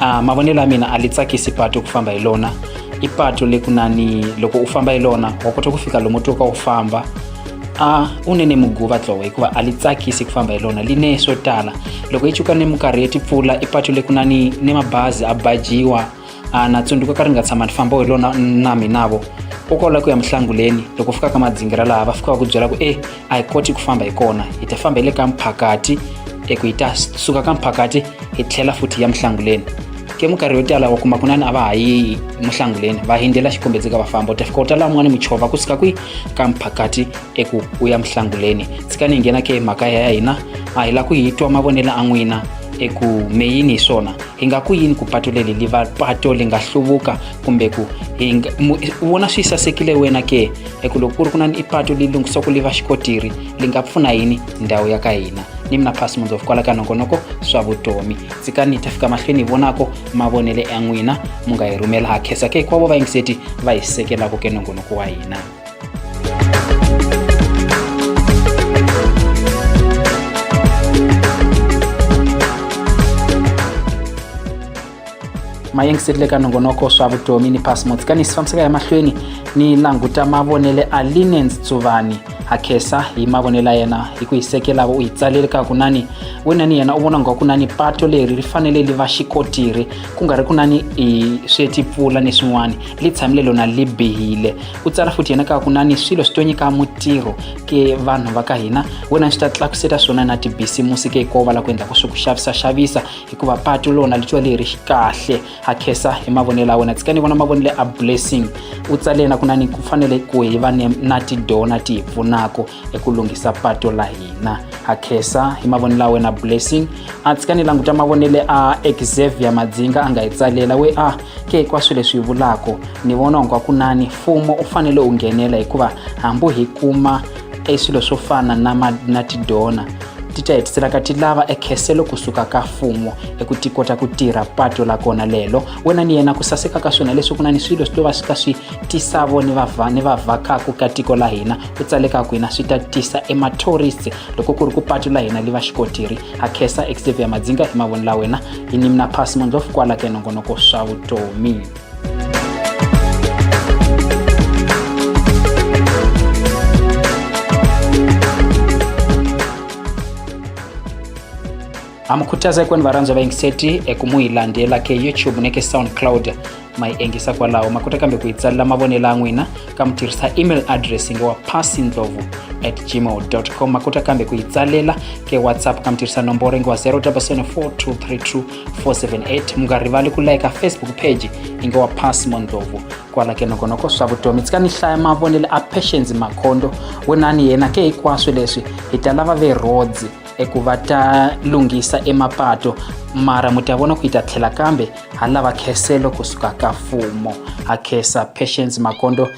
uh, mavonelo ya mina a li tsakisi patu ku famba hi lona i patu le kunani loko u famba hi lona wa kota ku fika lomu twoka u famba a u ne ne muguva tlowo hikuva a li tsakisi ku famba hi lona li ne swo tala loko yi chuka ni minkarhi ya tipfula i patu le kunani ni mabazi a bajiwa a na tsundzuka ka ri nga tshama ni famba hi lona na minavo u kola ku ya mihlanguleni loko fikaka madzingira laha va fikaka ku byela ku e a hi koti ku famba hi kona hi ta famba hi le ka mphakati eku hi ta suka ka mphakati hi tlhela futhi ya muhlanguleni ke minkarhi yo tala wa kuma kunani a va ha yi muhlanguleni va hindzela xikombedzeka va famba u ta fika u ta laha un'wana muchova ku suka kwi ka mphakati eku u ya muhlanguleni tshika ni nghena ke makaya ya hina a hi la ku hi twa mavonelo a n'wina eku me yini hi swona hi nga ku yini ku pato leli li va pato li nga hluvuka kumbe ku vona swi sasekile wena ke hi ku loko ku ri ku na ni ipatu leyi lunghisoko li va xikotiri li nga pfuna yini ndhawu ya ka hina ni mina phasi mundzo kwala ka nongonoko swa vutomi tsikani ta fika mahlweni hi vonako mavonele ya n'wina mu nga hi rhumela ha khensa ke hinkwavo vayingiseti va hi sekelaka ke nongonoko wa hina mayingiseri le ka nongonoko swa vutomi ni pasmos ka ni si fambiseka emahlweni ni languta mavonele a linens tsuvani ha khesa hi mavonelo ya yena hi ku yi sekelaka u yi tsalele ka kunani wena ni yena u vona nga ku na ni pato leri ri fanele li va xikotiri ku nga ri ku na ni i swetipfula ni swin'wana li tshamile lona li bihile u tsala futhi yena ka kunani swilo swi to nyika mutirho ke vanhu va ka hina wena swi ta tlakuseta swona na tibisimusi ke hikovala ku endla ku swi ku xavisa xavisa hikuva patu lona litiwa leyi ri kahle ha khesa hi mavonelo ya wena tshika ni vona mavonelo a blessing u tsale na ku na ni ku fanele ku hi va ni na tidona ti hi pfunaka eku lunghisa patu la hina ha khesa hi mavonelo ya wena blessing a tshika ni languta mavonele a exavier madzinga a nga hi tsalela we a ke hinkwaswo leswi hi vulaka ni vona onga kunani mfumo u fanele u nghenela hikuva hambi hi kuma e swilo swo fana na, ma, na tidona ti ta hetiselaka ti lava ekheselo kusuka ka fumo eku ti kota ku tirha pato la kona lelo wena ni yena ku saseka ka swona leswi ku na ni swilo swi to va swi ka swi tisavo ni vava ni vavhakaku ka tiko la hina ku tsaleka ku hina swi ta tisa emathorisi loko ku ri ku pato la hina li va xikotiri ha khesa xavier madzinga hi mavoni la wena hi nimna pass mondlof kwala ka nongonoko swa vutomi amukhuthaza ekwani varhandzwa va yingiseti eku mu yi landzela ke youtube ni ke soundcloud ma yi engisa kwalaho ma kota kambe ku yi tsalela mavonelo ya n'wina ka mi tirhisa email address nge wa passindlovu at gmail com ma kota kambe ku yi tsalela ke whatsapp ka mi tirhisa nomboro nge wa 0 7 4 2 3 2 478 munga rivali ku like facebook page yi nge wa passmo ndlovu kwala ke nokonoko swa vutomi tsika ni hlaya mavonelo a patience makhondo wunani yena ke hinkwaswo leswi hi ta lava verhodzi eku va ta lunghisa emapato mara mu ta vona ku yi ta tlhela kambe ha lava kheselo kusuka ka mfumo ha khesa patience makondo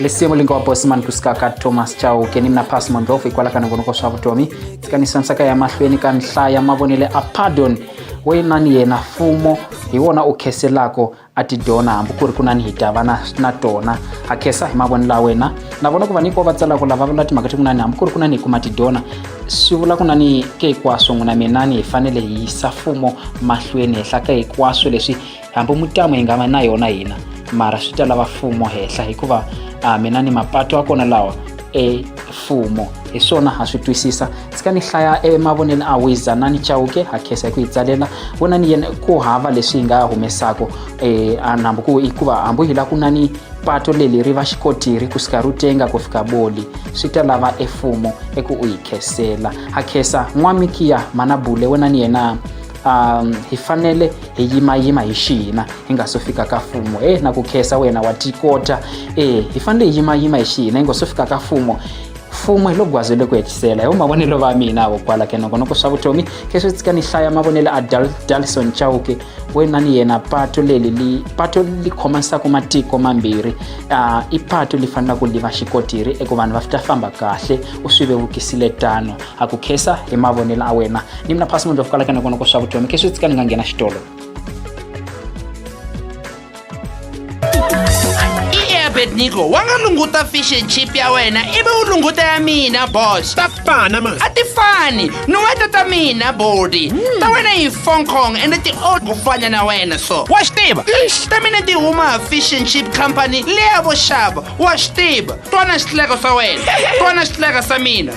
lisimu lingowa bosman kusuka ka thomas chauke ni mina pass mondlovu hikwala ka nongonoko swa vutomi tsikanisanisaka ya mahlweni ka nhlaya mavonele a pardon wena ni yena fumo hi wona u kheselako a tidona hambi ku ri ku na ni hi dava na, na tona ha khesa hi mavonelo ya wena na vona ku va niko va tsalaka lava vula timhaka ti ku nani hambi ku ri ku na ni hi kuma tidona swi vula ku na ni ke hinkwaswo n'wina minani hi fanele hi yisa fumo mahlweni henhla ka hinkwaswo leswi hambi mutamo yi nga va na yona hina mara swi ta lava mfumo henhla hikuva a mina ni mapatu a kona lawa e mfumo hi swona ha swi twisisa tsika ni hlaya emavonelo a wiza na ni chawuke ha khesa hi ku yi tsalela vona ni yena ku hava leswi hi nga humesaka um e, hambi ku hikuva hambi hi la ku na ni pato leli ri va xikotiri ku sika ru tenga ku fika boli swi ta lava efumo eku u yi khesela ha khesa n'wamikiya mana bule wena ni yena um hi fanele hi yimayima hi xihina hi nga so fika ka fumo e na ku khesa wena wa tikota e hi fanele hi yimayima hi xihina hi nga so fika ka fumo fumo hi lo gwaze loko hetisela hi mavonelo va mina avo kwala ke nokonoko swa vutomi ke swi tsika ni hlaya mavonelo a dalison chauke wena ni yena pato leli li pato li khomanisaka matiko mambirhi uh, i pato li fanelaka li va xikotiri eku vanhu va fita famba kahle u swi vevukisile tano a ku khensa hi mavonelo a wena ni mina phasi munhu lofukalaka na kona ku swa vutomi kheswi tsika ni nga nghena xitolo abednigo wa nga lunguta fish and chip ya wena ivi u lunguta ya mina boss ta fana ma a ti fani ni weta ta mina body hmm. ta wena yi fong kong ende ti old ku fana na wena so wa swi tiva ta mina ti huma fish and chip company leya vo xava wa swi tiva twana xitleko swa wena twana xitleka sa mina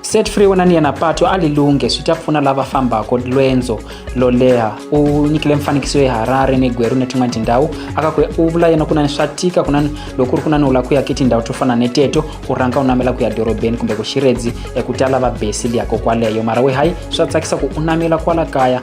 Set Free wena ni yena patu a lilunghe swi ta pfuna lava fambaka lwendzo lo leha u nyikile mfanekiso ya harare ni gweru ni tin'wana tindhawu aka ku u vula yena kunani swa tika kunani loko ku ri kunani u lava ku ya ki tindhawu to fana ni teto u rhanga u namela ku ya dorobeni kumbe ku xiredzi eku ta lava besi liya kokwaleyo mara we hayi swa tsakisa ku u namela kwala kaya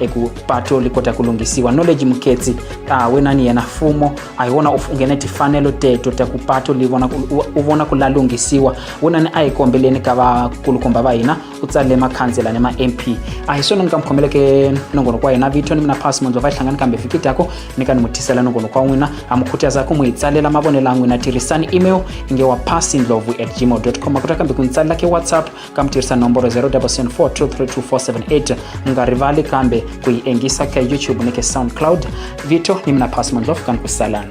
eku pato li kota ku lunghisiwa knowledge muketsi a wena ni yena fumo a hi wona u nghene tifanelo teto ta ku pato li vona u vona ku la lunghisiwa wena ni a hi kombeleni ka vakulukumba va hina u tsalele makhansela ni ma-mp a hi swona ni ka mi khomeleke nongonoko wa hina vito ni mina pasi mundzo va yi hlangani kambe vhiki dyako ni ka ni mu tisela nongonoko wa n'wina ha mi khutaza ku mu hi tsalela mavonelo a n'wina tirhisani email inge wa pasi ndlovu at gmail com a kota kambe ku ni tsalela ke whatsapp ka mi tirhisa nomboro 0774232478 mi nga rivali kambe ku yi engisa ka youtube ni ka soundcloud vito ni mina pass mondlof kani ku salani